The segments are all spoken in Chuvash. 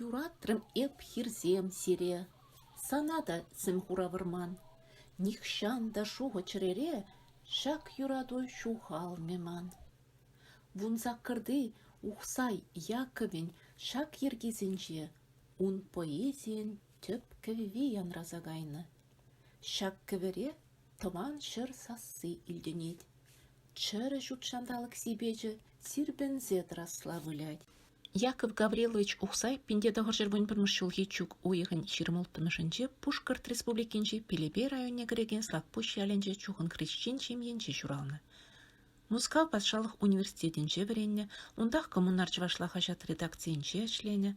Юратрӑм эп хирсем сире, Сана та сӗм хура вӑрман. Нихҫан та шухӑ чӗрере Ҫак юрату ҫухалмӗ ман. Вунсаккӑрти Ухсай Яккӑвӗн ҫак йӗркисенче ун поэзийӗн тӗп кӗвви янраса кайнӑ. Ҫак кӗвӗре тӑван ҫӗр сасси илтӗнет, чӗрӗ ҫутҫанталӑк сипечӗ сирпӗнсе тӑрасла вылять. Яков Гаврилович Ухсай пинте тӑхӑрҫӗр вун пӗрмӗш ҫулхи чӳк уйӑхӗн ҫирӗм улттӑмӗшӗнче Пушкӑрт Республикинчи Пелепей районне кӗрекен Слакпуҫ ялӗнче чухӑн хресчен ҫемйинче ҫуралнӑ. Мускав патшалӑх университетӗнче вӗреннӗ, унтах Коммунар чӑвашла хаҫат редакцийӗнче ӗҫленӗ,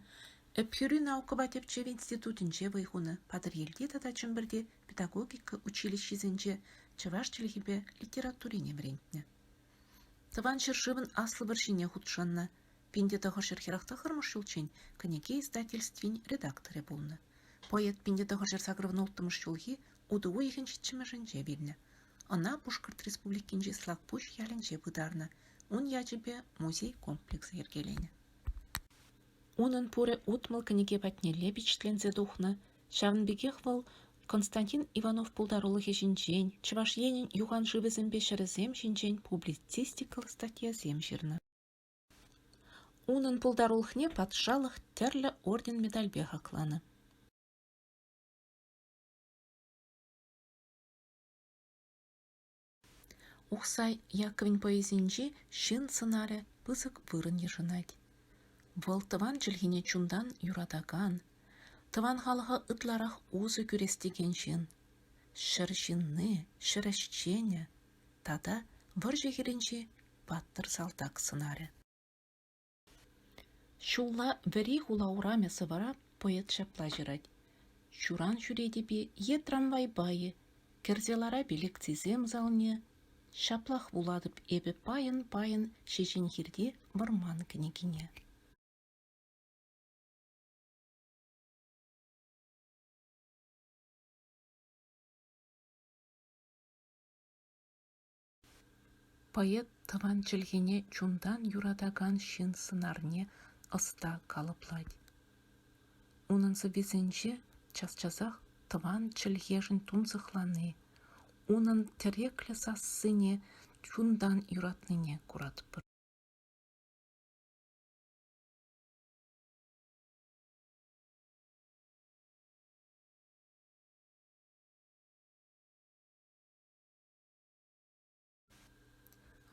Ӗпхӳри наукӑпа тӗпчев институтӗнче вӑй хунӑ, Патӑрьелти тата Чӗмпӗрти педагогика училищисенче чӑваш чӗлхипе литературине вӗрентнӗ. Тӑван ҫӗршывӑн Аслӑ вӑрҫине хутшӑннӑ, пин те тӑхӑршер хӗрах тӑхӑрмӗш ҫулччен кӗнеке издательствин редакторӗ пулнӑ. Поэт пин те тӑхӑршер сакӑрӑн улттӑмӗш ҫулхи утӑ уйӑхӗн ҫиччӗмӗшӗнче вилнӗ. Ӑна Пушкӑрт Республикинчи Слакпуҫ ялӗнче пытарнӑ, ун ячӗпе музей комплексӗ йӗркеленӗ. Унӑн пурӗ утмӑл кӗнеке патнелле пичетленсе тухнӑ, ҫавӑн пекех вӑл Константин Иванов пултарулӑхӗ ҫинчен, Чӑваш Енӗн юхан шывӗсемпе ҫӗрӗсем ҫинчен публицистикал статьясем ҫырнӑ. Унӑн пултарулӑхне патшалӑх тӗрлӗ орден-медальпе хакланӑ. Ухсай Яковӗн поэзинчи ҫын сӑнарӗ пысӑк вырӑн йышӑнать. Вӑл тӑван чӗлхене чунтан юратакан, тӑван халӑха ытларах усӑ кӳрес текен ҫын, ҫӗр ҫынни, ҫӗр ӗҫченӗ тата вӑрҫӑ хирӗнчи паттӑр салтак сӑнарӗ. Ҫулла вӗри хула урамӗ сӑвӑра поэт ҫапла ҫырать: «Ҫуран ҫӳретӗп-и е трамвайпа-и, Кӗрсе ларап-и лекцисем залне, Ҫаплах вулатӑп эпӗ пайӑн-пайӑн Ҫеҫенхирти вӑрман кӗнекине». Поэт тӑван чӗлхене чунтан юратакан ҫын сӑнарне ӑста калӑплать. Унӑн сӑввисенче час-часах тӑван чӗлхешӗн тунсӑхлани, унӑн тӗреклӗ сассине чунтан юратнине куратпӑр.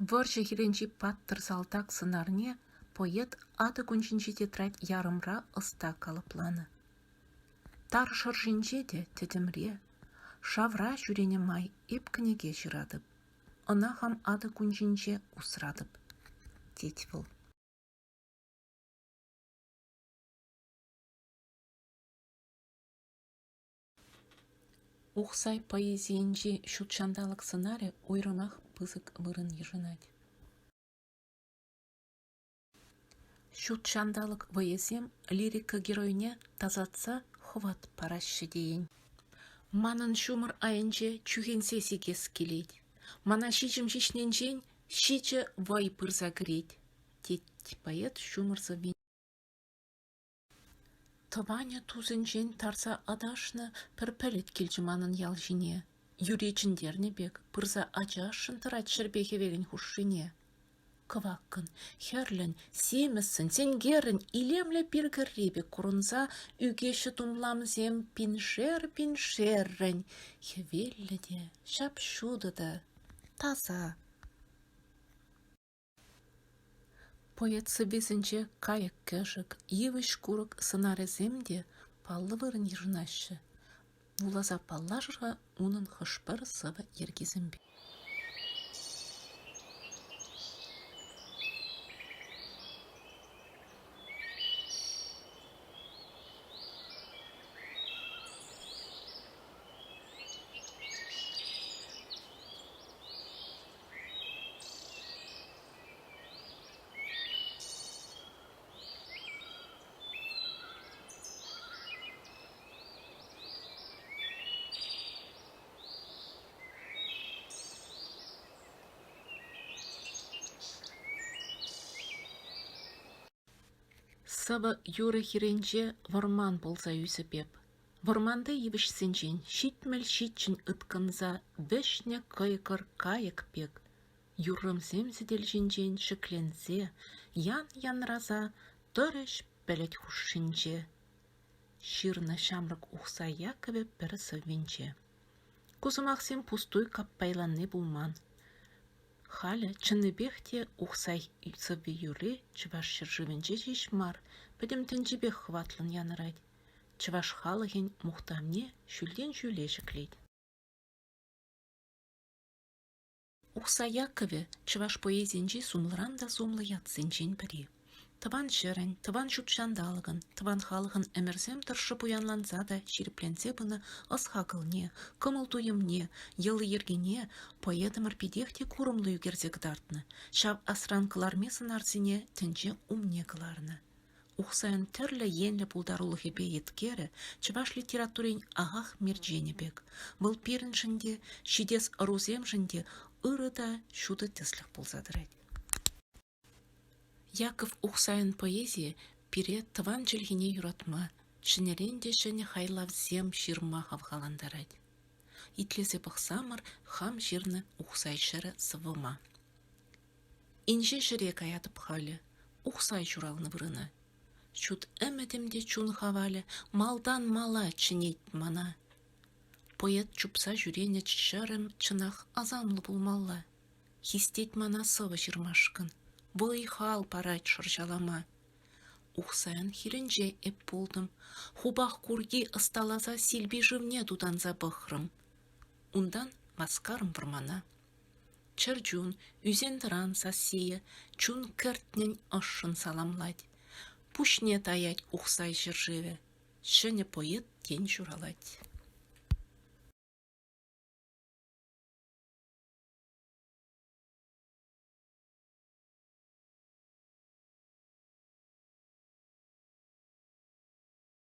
Вӑрҫӑ хирӗнчи паттӑр салтак сӑнарне поэт атӑ кунҫинчи тетрадь ярӑмра ӑста калӑпланӑ. Тар шӑршинче те тӗтӗмре, шавра ҫӳренӗ май эп кӗнеке ҫыратӑп, ӑна хам атӑ кунҫинче усратӑп, тет вӑл. Ухсай поэзийӗнчи ҫут ҫанталӑк сӑнарӗ уйрӑмах пысӑк вырӑн йышӑнать. Ҫут ҫанталӑк вӑйӗсем лирика геройне тасатса хӑват параҫҫӗ тейӗн. Манӑн ҫумӑр айӗнче чӳхенсе сикес килет. Мана ҫичӗм ҫиҫнинчен ҫичӗ вӑй пырса кӗрет, тет поэт ҫумӑр сӑввин. Тӑванӗ тусӗнчен тарса аташнӑ пӗр пӗлӗт килчӗ манӑн ял ҫине, юри чӗнтернӗ пек, пырса ачашшӑн тӑрать ҫӗрпе хӗвелӗн хушшине. Кӑваккӑн, хӗрлӗн, симӗссӗн, сенкерӗн илемлӗ пиркӗрри пек курӑнса ӳкеҫҫӗ тумламсем пиншер-пиншеррӗн, хӗвеллӗ те, ҫап-ҫутӑ та, таса. Поэт сӑввисенче кайӑк-кӗшӗк, йывӑҫ-курӑк сӑнарӗсем те паллӑ вырӑн йышӑнаҫҫӗ, вуласа паллашӑр-ха унӑн хӑш-пӗр сӑвӑ йӗркисемпе. Сӑвӑ юрӑ хирӗнче вӑрман пулса ӳсӗп эп. Вӑрманти йывӑҫсенчен ҫитмӗл ҫиччӗн ыткӑнса вӗҫнӗ кӑйкӑр кайӑк пек юррӑмсем сӗтел ҫинчен ҫӗкленсе ян-янраса тӑрӗҫ пӗлӗт хушшинче. Ҫырнӑ ҫамрӑк Ухсай Яккӑвӗ пӗр сӑввинче. Ку сӑмахсем пустуй каппайланни пулман. Халӗ чӑннипех те Ухсай сӑвви юрри Чӑваш ҫӗршывӗнче ҫеҫ мар, пӗтӗм тӗнчипех хӑватлӑн янӑрать. Чӑваш халӑхӗн мухтавне ҫӳлтен ҫӳле ҫӗклет. Ухсай Яккӑвӗ чӑваш поэзийӗнчи сумлӑран та сумлӑ ятсенчен пӗри. Тӑван ҫӗрӗн, тӑван ҫут ҫанталӑкӑн, тӑван халӑхӑн ӗмӗрсем тӑршшӗ пуянланса та ҫирӗпленсе пынӑ ӑс-хакӑлне, кӑмӑл-туйӑмне, йӑли-йӗркине поэтӑмӑр питех те курӑмлӑ ӳкерсе кӑтартнӑ, ҫав асран кӑларми сӑнарсене тӗнче умне кӑларнӑ. Ухсайӑн тӗрлӗ енлӗ пултарулӑхӗпе еткерӗ чӑваш литературин ахах мерченӗ пек, вӑл пирӗншӗн те, ҫитес ӑрусемшӗн те ырӑ та ҫутӑ тӗслӗх пулса тӑрать. Яков Ухсайӑн поэзийӗ пире тӑван чӗлхене юратма, ҫӗнӗрен те ҫӗнӗ хайлавсем ҫырма хавхалантарать. Итлесе пӑхсамӑр хам ҫырнӑ Ухсай ҫӗрӗ сӑвӑма. Инҫе ҫӗре каятӑп халӗ, Ухсай ҫуралнӑ вырӑна. Ҫут ӗмӗтӗм те чун хавалӗ Малтан мала чӗнет мана. Поэт чупса ҫӳренӗ ҫӗрӗм чӑнах асамлӑ пулмалла. Хистет мана сӑвӑ ҫырмашкӑн, Вӑй-хал парать шӑрҫалама. Ухсайӑн хирӗнче эп пултӑм, Хупах курки ӑсталаса Силпи шывне тутанса пӑхрӑм. Унтан васкарӑм вӑрмана. Чӗрчун, ӳсен-тӑран сассийӗ чун кӗртнӗн ӑшшӑн саламлать, пуҫне таять ухсай ҫӗршывӗ, ҫӗнӗ поэт тен ҫуралать.